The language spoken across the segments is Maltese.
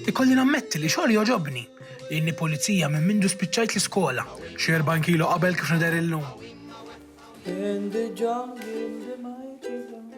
Ikolli nammetti li xogħli jogħġobni. Inni pulizija minn mindu spiċċajt l-iskola. Xi 40 kilo qabel kif nidher illum. In the jungle, in the mighty jungle.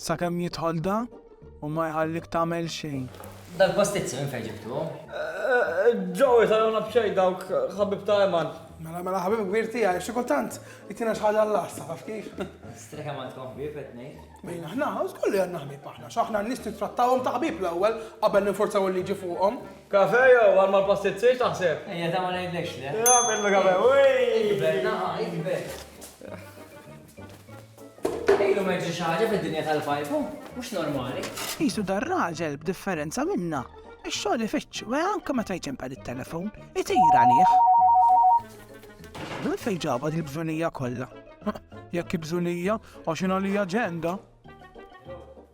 Sakemm jidħol da u ma jħallik tagħmel xejn. Dal-pastizzi minn fejn ġibtuhom? Ġew isaluna b'xejn dawk ħabib ta' Eman. Mela mela ħabib kbir tiegħi, xi kultant jtina xi ħaġa l-lassa, taf kif? Streħ Eman tkun ħbieb qed ngħid. Min aħna, żgur li għandna ħbieb aħna, x'aħna n-nies nittrattawhom ta' ħbieb l-ewwel qabel ninforzaw il-liġi fuqhom. Kafe jew għal mal-pastizzi x'taħseb? Ejja ta' ma ngħidlekx le. Nagħmillu kafe, wi! Ikber naħa, ikber. Ilu ma jiġri xi ħaġa fid-dinja tal-fajfu, mhux normali. Qisu dar-raġel b'differenza minna, ix-xogħol ifittxu e anke meta jċempel it-telefon, itir għalih. Minn fejn ġabha dil-bżunija kollha? Jekk hi bżunija, għax hi għalija ġenda.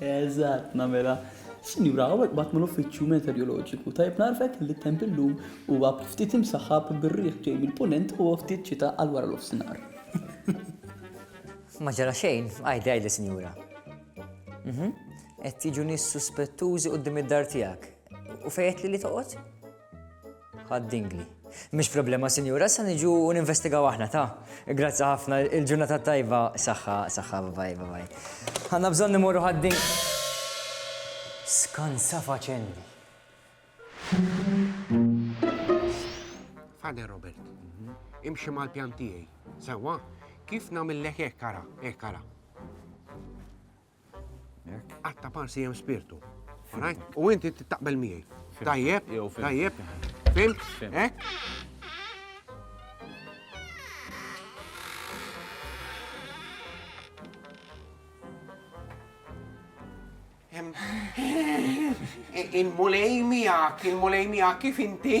Eżatt, nagħmilha. Sinjura, hawnhekk bgħattna l-Uffiċċju Meteoroloġiku. Tajjeb ngħarrfek li t-temp illum huwa ftit imsaħħab bir-riħ ġej mill-Punent u ftit xita għal wara nofsinhar. Ma ġara xejn, għidi għidli sinjura. Qed jiġu nies suspettużi quddiem id-dar tiegħek. U fejn għedtli li toqgħod? Ħadd dingli. Mhix problema, Sinjura, sa niġu u ninvestigaw aħna ta. Grazzi ħafna, il-ġurnata tajba, saħħa, saħħa, babaj, babaj. Għanna bżonn nimorru ħaddin. Skanza faċendi. Fade Robert, imxi mal-pjan tiegħi. Sewa, kif nagħmel lek ekkara, ekkara. Għatta parsi jem spirtu. U inti taqbel miegħi. Tajjeb, tajjeb, fim, ek? Il-mulej miegħek, il-mulej miegħek kif inti?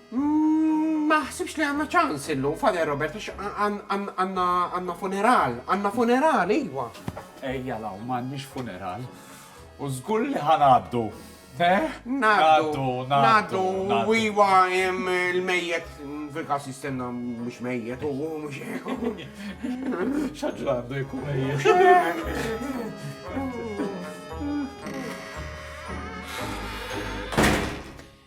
Ma naħsibx li għandna ċans illum, Father Robert, għax għandna funeral. Għandna funeral, iwa. Ejja l hawn, m'għandniex funeral. U żgur li ħa ngħaddu. Eh? Ngħaddu, ngħaddu, iwa l-mejjet fil-każ jistenna mhux mejjet u mhux X'għaġġel għandu jkun mejjet.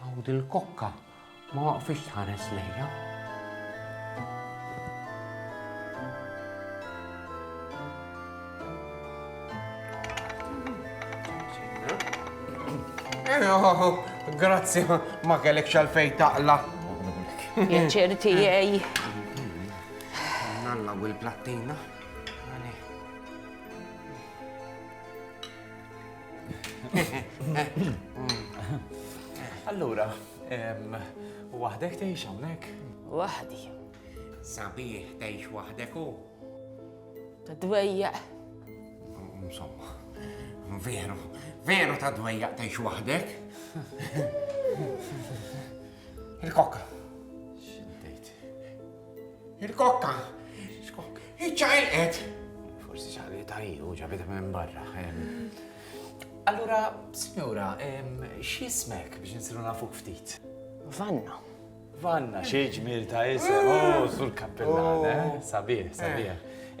Hawn dil-kokka ma waqfitx tħares lejja. Grazzi, ma kellek xalfej taqla. Jaċċer tiegħi. Nalla u l-plattina. Allura, waħdek tgħix hawnhekk? Waħdi. Sabiħ tgħix waħdek u? Ta' dwejja. Insomma, veru, veru ta' dwejja tgħix waħdek. Il-kokka. Il-kokka. Iċċaqilqet. Forsi ċaqli ta' iju, ġabita minn barra. Allura, signora, x'ismek biex nsiru nafuk ftit? Vanna. Vanna, xi ġmil ta' isem, u oh, sul kappellan, eh? Oh. Sabiħ, eh. sabiħ.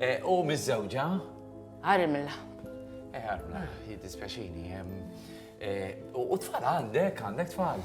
Eh, u miż-żewġa? Armla. Eh, Armla, jiddispjaċini. U tfal għandek, għandek tfal?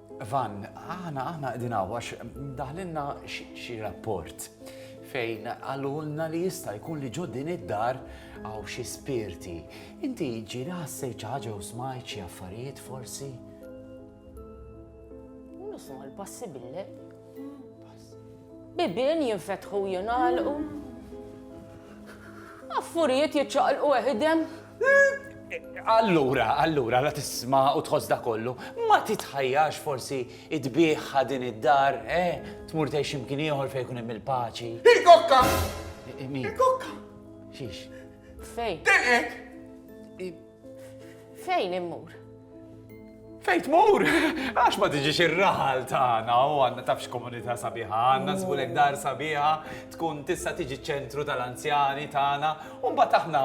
Van, aħna aħna qegħdin hawn għax daħlinna xi rapport fejn għalulna li jista' jkun li ġo din id-dar għaw xi spirti. Inti ġiri ħassej ċaġa u smajt xi affarijiet forsi? Nisma' l-passi bille. Bibien jinfetħu u jingħalqu. Affurijiet jiċċaqlqu weħidhem. Allura, allura, la tisma' u tħoss da kollu, ma titħajjax forsi tbiegħha din id-dar, eh? Tmur tgħix imkien ieħor fejn jkun hemm il-paċi. Il-kokka! Min? Il-kokka! Xiex? Fejn? Telqet! Fejn immur? Fejn tmur? Għax ma tiġix ir-raħal tagħna u għandna tafx komunità sabiħa, għandna żbulek dar sabiħa, tkun tista' tiġi ċentru tal-anzjani tagħna, u mbagħad aħna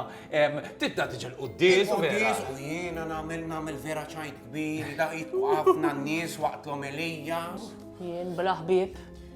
tibda tiġi l-quddies u vera. U jiena nagħmel nagħmel vera ċajt kbir, daqit ħafna nies waqt l-omelija. Jien bla ħbieb.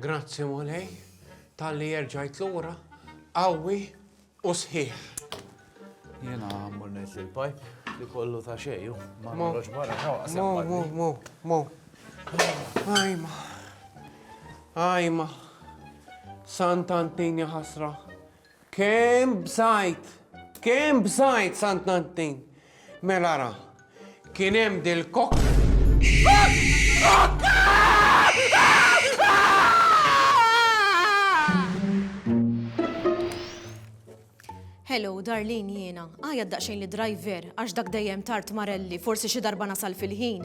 Grazzi Mulej talli jerġajt lura qawwi u sħiħ. Jiena mmur ngħid lil pajp li kollu ta' xejju, ma nħroġ barra ta' waqt. Mo, mo, mo, mo. Ajma. Ajma. Sant Antini ħasra. Kemm bżajt! Kemm bżajt, Sant Nantin! Mela ra, kien hemm dil-kok. Hello, Darlene jiena. Għajat daqsxejn lid-driver għax dak dejjem tard marelli, forsi xi darba nasal fil-ħin.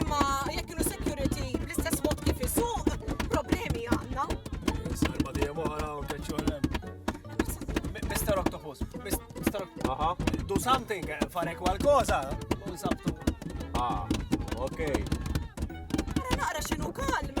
Imma jekk kienu security bl-istess mod kif isuq, problemi għandna. Sarba di għara u teċċolem. Mr. Octopus, Mr. Octopus, do something, eh, fare qualcosa, u nsabtu. Ah, ok. Għara naqra xinu kalm.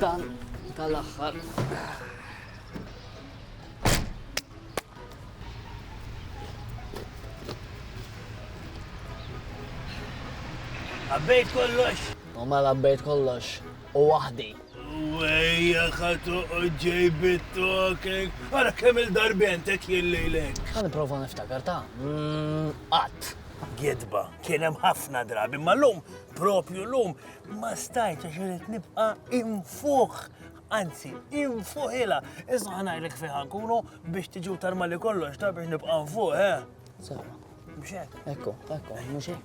Dan tal-aħħar. Għabbejt kollox. U ma mela għabbejt kollox u waħdi. Wejja ka toqgħod ġejb it-tokek. Ara kemm il-darbent hekk jillejlek. Ħa nipprova niftakar ta' mm, qatt. Gidba, kien hemm ħafna drabi, ma lum, propju lum, ma stajt għax irid nibqa' infuħ. Anzi, infuħila, iżda ħanajlek fiħa nkunu biex tiġu tarmali kollox ta' biex nibqa' nfuħ, eh? Sewa. Mhux hekk. Ekku, ekku, mhux hekk.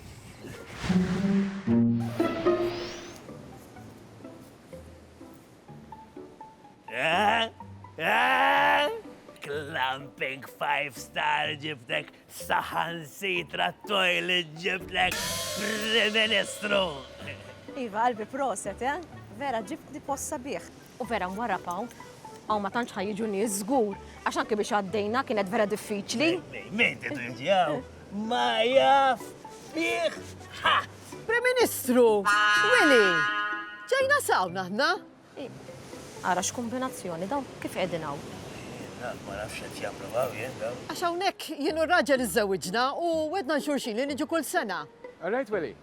Clamping 5 star ġibtek saħan sitra toilet ġibtek Prim Ministru! Iva, qalbi proset, eh? Vera, ġibtni possa bieħ. U vera nwarrab hawn, hawn ma tantx ħa jiġu nies żgur, għax anke biex għaddejna kienet vera diffiċli. Min tidu jiġi hawn? Ma jaf fih ħadd. Prim Ministru, Willy, ġejna sawn aħna. Ara x'kumbinazzjoni dawn kif qegħdin hawn. Ma nafx qed jagħmlu hawn jien dawn. Għax hawnhekk jien u r-raġel iżżewwiġna u wedna xulxin li niġu kull sena. All right, Willy.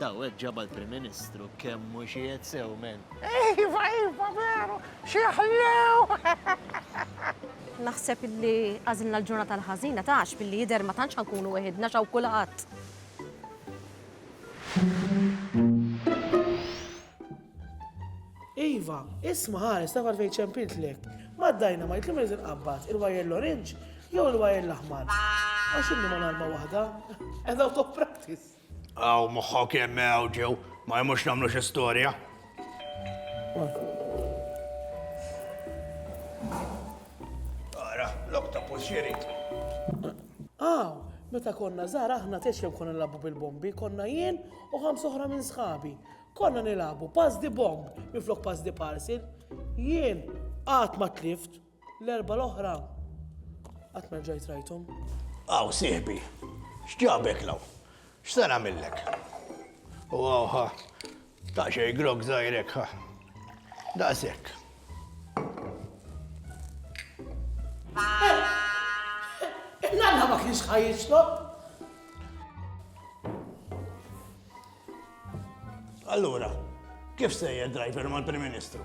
Daw hekk ġabha l-Prim Ministru kemm hu xiegħed sew men. Iva, iva, veru, xi ħlew! Naħseb li għażilna l-ġurnata l-ħażina tax billi jidher ma tantx ħankunu weħidna x'hawn kulħadd. Iva, isma' ħares tafar fejn ċempiltlek. Maddajna ma jitlim irid inqabbad il-wajr l-orange jew il-wajr l-aħmar. Għax inni ma narma waħda. Edaw top practice. Aw moħħok hemm hawn ġew, ma jemmux nagħmlu xi storja. Ara, lok ta' puxxiri. Aw, meta konna żgħar aħna tex kemm konna nilagħbu bil-bombi, konna jien u ħams oħra minn sħabi. Konna nilagħbu pass di bomb minflok pass di parcel. Jien qatt ma tlift. L-erbgħa l-oħra qatt ma rġajt rajthom. Aw, sieħbi, x'ġabek law? X'se nagħmillek? U aw ħa, ta' xejn grog żgħir hekk ħa. Daqshekk. L-alla ma kienx ħaj jixrob. Allura, kif sejjer driver mal-Prim Ministru?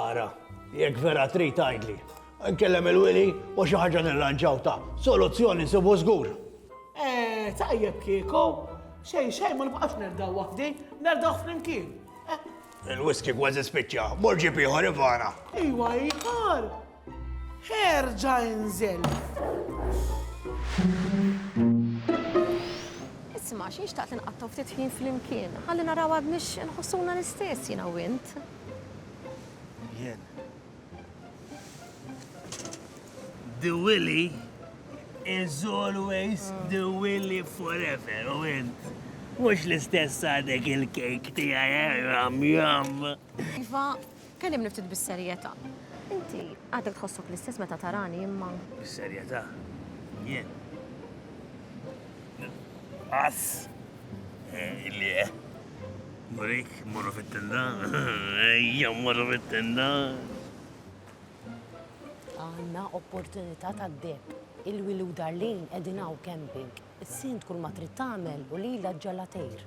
Ara, jekk vera trid għajdli. Nkellem il-wili u xi ħaġa nirranġaw ta' soluzzjoni sibu żgur. Eh, tajjeb kieku, xejn xejn ma nibqax nerdaw waħdi, nerdaw flimkien. Eh? Il-whisky kważi spiċċa, morġi ieħor ivana. Iwa ieħor, Erġa' inżel! Isma', xi nxtaqt li nqattgħu ftit ħin flimkien, ħalli naraw għadniex inħossuna l-istess jiena u int. Jien. The Willy is always the Willy forever, u int. Mux l-istess għadek il-kejk tijaj, jam jam. Iva, Kellimni ftit bis-serjetà. Inti għadek tħossok l-istess meta tarani imma. Bis-serjetà? Jien? Qass! Eh, illi eh. Murik, morru fit-tenda. Ejja, morru fit-tenda. Għanna opportunità ta' deb. Il-wilu darlin edinaw camping. Is-sint kull ma trid tagħmel u lila ġalatejr.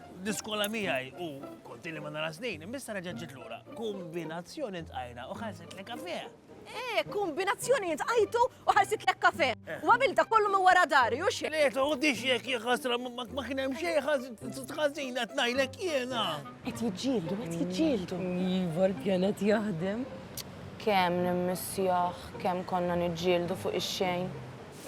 Diskola miegħi u konti li ma nara snin, imbissa reġgħet ġiet lura. Kombinazzjoni tqajna u ħarset li kafe. Eh, kombinazzjoni tqajtu u ħarsit lek kafe. Eh. U għamil da kollu minn wara dari, u xie? Le, ta' u dix jek jħasra ma kien hemm xejn ħażina tnajlek jiena. Qed jiġġieldu, qed jiġġieldu. Iva l-pjanet jaħdem. Kemm nimmissjah, kemm konna niġġieldu fuq ix-xejn.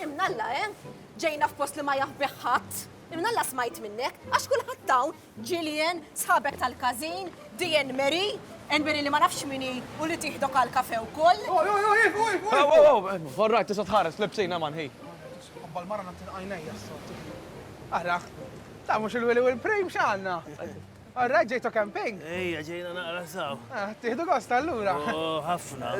Imnalla, eh? Ġejna f'post li ma jaħbih ħadd. Minn Alla smajt minnek, għax kulħadd hawn, Gillian, sħabek tal-każin, Diane Mary, Enberi li ma nafx min hi u li tieħdok għal kafe wkoll. Oj, oj, oj, oj, oj! Aw, aw, aw, all right, tista' tħares, l-ibsin hemm hi. Ħabba l-mara nagħti għajnejja s-sod. Ara, ta' mhux il-Willy u l-Prem x'għandna. All right, ġejtu camping? Ejja, ġejna naqra saw. Ah, tieħdu gost allura. Oh, ħafna.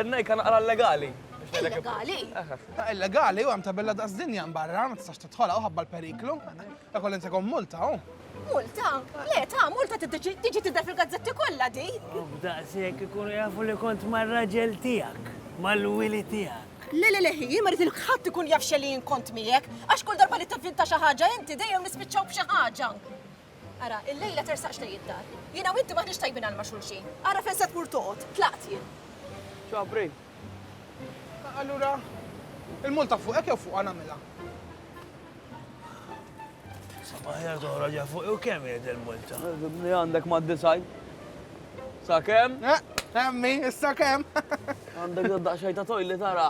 Nejka naqra legali. Illegali? Ah, illegali, u għam tabella daqs dinja barra, ma tistax titħola u ħabba l-periklu. Ta' kollin se multa, u. Multa? Le, ta' multa tiġi tidda fil-gazzetti kollha di. Oh, daqshekk ikunu jafu li kont mar-raġel tiegħek, mal-wili tiegħek. Le, le, le, hi, ma rrit ħadd ikun jaf xelin kont miegħek, għax kull darba li tivvinta xi ħaġa inti dejjem nispiċċaw b'xi ħaġa. Ara, illejla tersaqx lejn id-dar. Jiena u inti m'aħniex tajbin għal ma' xulxin. Ara fejn se tmur toqgħod. Tlaqt jien. Ġabri. Allura, il-multa fuqek jew fuqha nagħmilha? Sabaħjar toħra ġa fuq u kemm jgħid il-multa? Li għandek ma' disaj. Sa' kemm? Emmi, eh, eh, issa kemm? Għandek daqxajta tojli tara.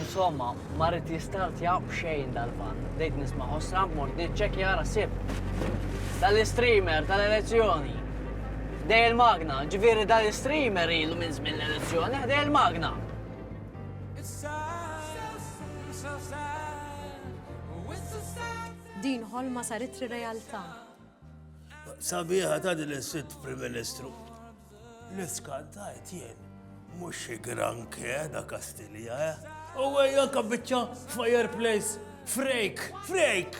Insomma, ma rrid jistartja b'xejn dal-van. Bdejt nisma' ħossra, mort niċċekkja ara sib. Dal-istreamer tal-elezzjoni. Dej il-magna, ġifieri dal-istreamer ilu minn żmien l-elezzjoni, ħdej il-magna. Din ħolma saritri realtà. Sabiħa ta' din is-sitt Prim Ministru. L-iskantajt jien mhux xi granke da Kastilja, eh? U għajja kabbiċċa fireplace frejk, frejk!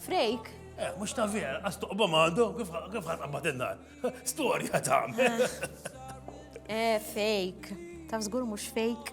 Frejk? Eh, mhux ta' vera, għas toqba għandu, kif ħan qabad in-nar. Storja ta' Eh, eh fejk. Taf żgur mhux fejk.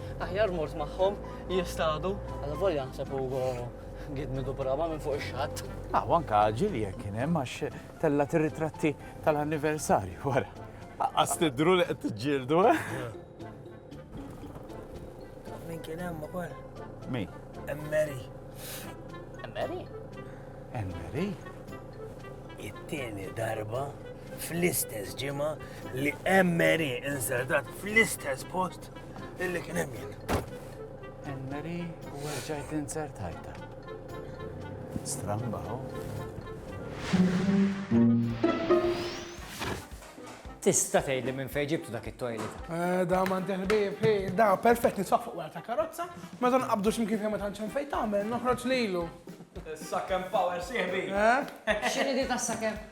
Aħjar mort magħhom jistadu. Għalla volja nseb Ugo gidmi dubraba minn fuq ix-xatt. Ah, anka ġil jekk kien hemm għax tella tirritratti tal-anniversarju wara. Aqqas tidru li qed tiġġieldu, eh? Min kien hemm ukoll? Min? Emmeri. Emmeri? Emmeri? It-tieni darba fl-istess ġimgħa li Emery insertat fl-istess post illi kien hemm jien. Emery u ġajt insertajta. Stramba, Tista tgħid li minn fejn ġibtu dak it-toilet. Eh, da ma ndelbib, da perfett nisaq fuq ta' karozza, ma dan qabdu x'imkien fejn ma tantx fejn tagħmel, noħroġ lilu. Sakem power sieħbi. Eh? X'inhi di ta' sakem?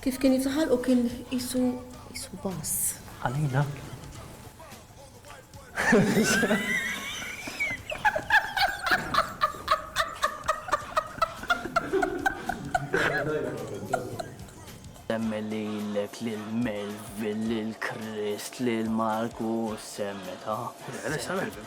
Kif kien jiftaħal u kien isu isu bass. Għalina. Semmi li l-ek li l-Melvin, li l-Krist, li l-Marku, semmi ta' Resta Melvin.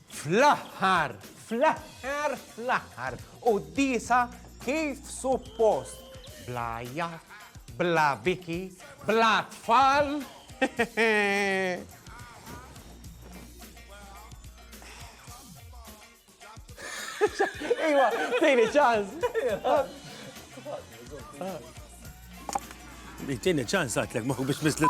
Fl-aħħar, fl-aħħar, fl-aħħar, quddiesa kif suppost, bla għajjat, bla biki, bla tfal. Iwa, tini ċans. Tini ċans għatlek, ma biex misli.